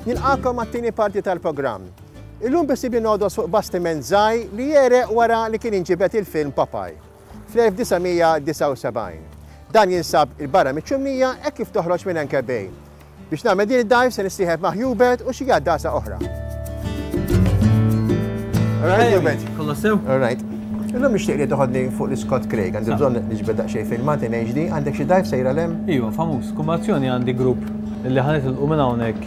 Nilqakom għat-tieni parti tal-programm. Illum bisibi nodu suq bastiment zaj li jere wara li kien inġibet il-film Papaj fl-1979. Dan jinsab il-barra miċ-ċumnija hekk kif toħroġ minn Enkebej. Biex nagħmel din id-dive se nissieħeb ma' Hubert u xi għaddasa oħra. Alright, Hubert. Kollu sew? Alright. Illum nixtieq li toħodni fuq l-Scott Craig, għandi bżonn niġbed daqsxejn filmat in HD, għandek xi dive sejra lem? Iva, famuż, kumbazzjoni għandi grupp li ħanet il minn hawnhekk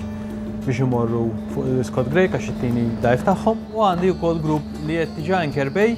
biex imorru fuq l-Scott Craig għax it-tieni dive tagħhom u għandi wkoll grupp li qed diġà Kerbej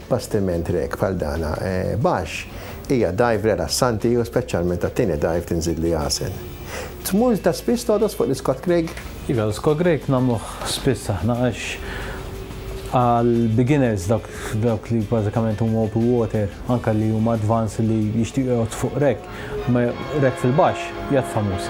Bastiment rek bħal dan baxx hija dive relassanti u speċjalment għat-tieni dive tinżid li għasel. Tmur ta' spiss togħdos fuq l-Scott Craig? Iva, l-Scott Craig nagħmluh spiss aħna għax għal beginners dawk li bażikament huma open water anke li huma advanced li jixtiequ jgħoddu fuq rek, rek fil-baxx jgħid famuż.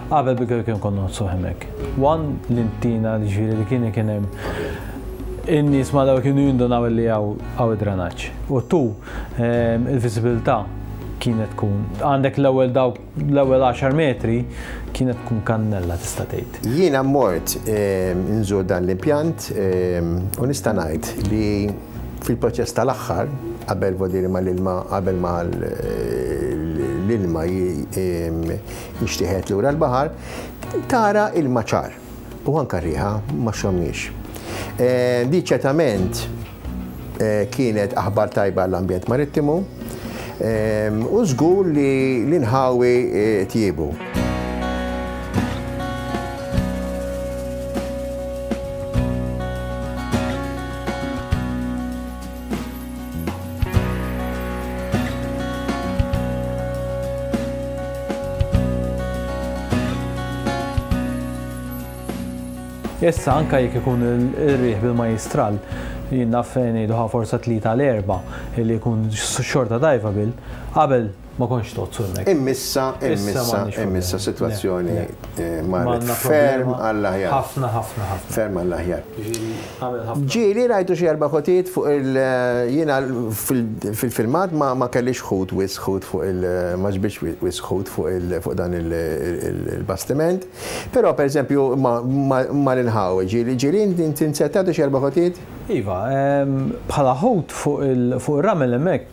Qabel bikri kien konna nqodsu hemmhekk. Wan li ntina li ġifieri li kien kien hemm in-nies ma daw kienu jindunaw li hawn id-dranaġġ. U tu ehm, il-viżibilità kienet tkun għandek l-ewwel daw l-ewwel 10 metri kienet tkun kannella tista' tgħid. Jiena mort ehm, nżur dan l-impjant ehm, u nista' ngħid li fil-proċess tal-aħħar qabel vodiri ma l-ilma qabel ma l-ilma biex tieħed lura l-baħar, tara ilma ċar u anka riħa ma xomniex. Eh, di ċertament eh, kienet aħbar tajba l-ambjent marittimu eh, u żgur li l-inħawi tjibu. Issa anka jekk ikun ir-riħ bil-majistral, jinnaf ngħiduha forsa tlita l-erba li jkun xorta tajfa bil, qabel Ma kontx tozzu hemmhekk. Immissa, immissa, immissa sitwazzjoni marret ferm għall-aħjar. Ħafna, ħafna, ħafna. Ferm għall-aħjar. Ġieli rajtu xi erba' ħutiet fuq il- jiena fil-filmat ma kellix ħut wis ħut fuq il- ma ġbidx wis ħut fuq dan il-bastiment. Però pereżempju mar inħawi ġieli. Ġieli inti nsettatu xi erba' ħutiet? Iva, bħala ħut fuq ir-ramel hemmhekk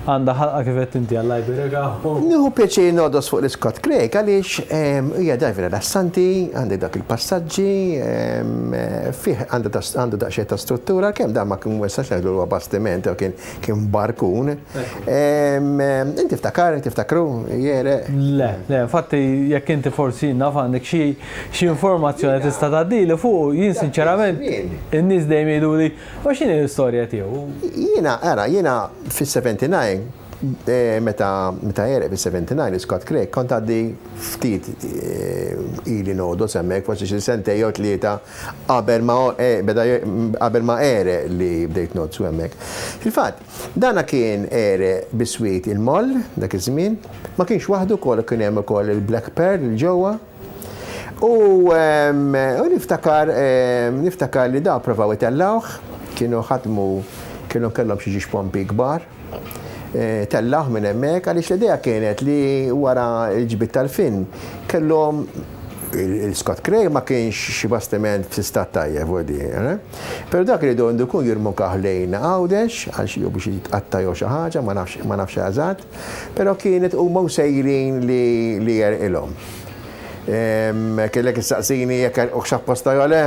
Għandha ħalqa kif għedt inti, Alla jbierikha u. Nieħu pjaċir nogħdos fuq l-Scott Craig għaliex hija dive rilassanti, għandek dawk il-passaġġi, fih għandu daqsxejn ta' struttura għalkemm dan ma kien ma nistax ngħidlu li huwa bastiment jew kien kien barkun. Int tiftakar, tiftakru, jegħreq? Le, le, infatti jekk inti forsi naf għandek xi xi informazzjoni tista' tgħaddili fuqu, jien sinċerament in-nies dejjem jgħiduli U x'inhi l-istorja tiegħu? Jiena, ara, jiena fis-79, meta għereq fis-79 li Scott Craig, kont għaddi ftit ili ngħodos hemmhekk, forsi xi sentejn jew tlieta qabel ma beda qabel ma għereq li bdejt ngħodsu hemmhekk. Fil-fatt, dana kien għereq biswit il-moll dak iż-żmien, ma kienx waħdu wkoll kien hemm ukoll il-black pearl 'l ġewwa. U niftakar, niftakar li daw provaw itellgħuh, kienu ħadmu, kienu kellhom xi ġiex pompi kbar, tellgħuh minn hemmhekk għaliex l-idea kienet li wara l-ġbid tal-fin kellhom il-Scott Craig ma kienx xi bastiment f'istat tajjeb ħdejh, eh? Però dak iridu għandu jkun jirmukah lejn Għawdex għal xi jew biex jitqatta' jew xi ħaġa, ma nafx, ma nafx eżatt. Però kienet huma u sejrin li jerqilhom. Kellek issaqsini jekk erqux apposta jew le,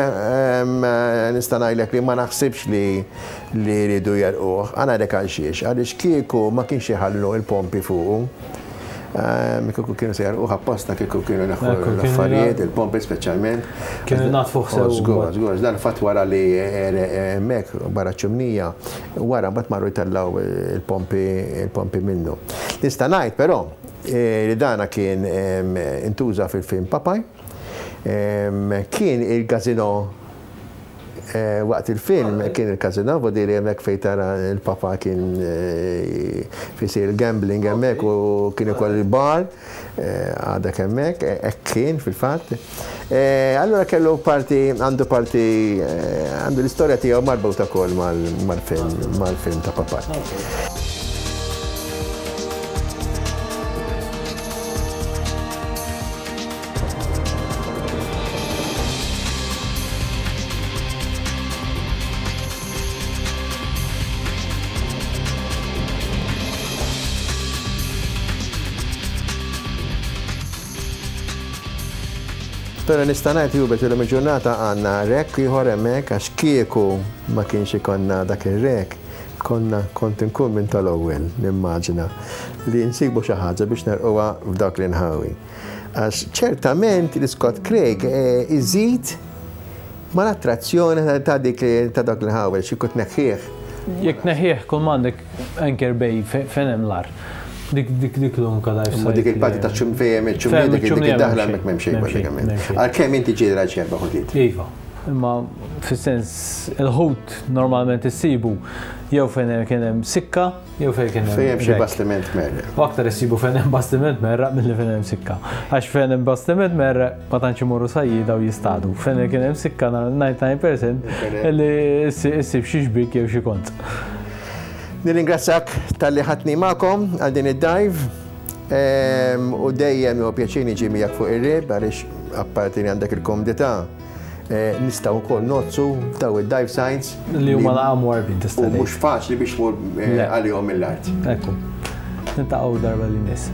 nista' ngħidlek li ma naħsibx li riedu jerquh. Ħa ngħidlek għalxiex, għaliex kieku ma kienx iħallu l-pompi fuqu. Kieku kienu se jerquh apposta kieku kienu neħħu l-affarijiet, il-pompi speċjalment. Kienu jnaddfuh sew. Żgur, żgur, dan fatt wara li ereq hemmhekk barra ċ-ċimnija, u wara mbagħad marru jtellgħu l-pompi l-pompi minnu. Nista' ngħid però li dana kien intuża fil-film Papaj. Kien il-gazino Eh, waqt il-film kien il-kazina, vodiri hemmhekk fejn tara l-papa kien eh, fisir il-gambling hemmhekk u kien ukoll il-bar. Għadek hemmhekk, hekk kien fil-fatt. Allura kellu parti, għandu parti, għandu l-istorja tiegħu marbuta wkoll mal-film, mal-film ta' Papà. Pero nista' ngħid jubet illum il-ġurnata għandna rek ieħor hemmhekk għax kieku ma kienx ikonna dak ir-rek konna kont inkun minn tal-ewwel nimmaġina li nsibu xi ħaġa biex nerquha f'dawk l-inħawi. Għax ċertament li Scott Craig eh, iżid Ma l-attrazzjoni ta' dik li ta' dak li ħawel xi kut neħħieħ. Jekk tneħħieħ kull m'għandek anchor bay fejn hemm l-ar. Dik dik dik l-unka dajf. Ma dik il-parti ta' ċum fejn il ċum dik dik daħla mek m'hemm xejn bażikament. Għalkemm inti ġieli rajt xerba ħutiet. Iva. Imma fis-sens il-ħut normalment issibu jew fejn kien hemm sikka Jew fejn kien Fejn hemm xi bastiment merre. U aktar issibu fejn hemm bastiment merra milli fejn hemm sikka. Għax fejn hemm bastiment merre ma tantx imorru sajjida u jistadu. Fejn kien hemm sikka 99% li issib xi xbik jew xi kont. Nirringrazzjak tal-li ħatni magħkom għal din id-dajv. Ehm, u dejjem u pjaċini ġimijak fuq ir-rib għaliex apparti li għandek il-komdità Eh, nistaw ukoll nozzu daw id-dive signs. Li huma laqam warbin tista' Mhux faċli biex mur eh, għalihom mill-art. Ekku. Nintaqgħu darba li miss.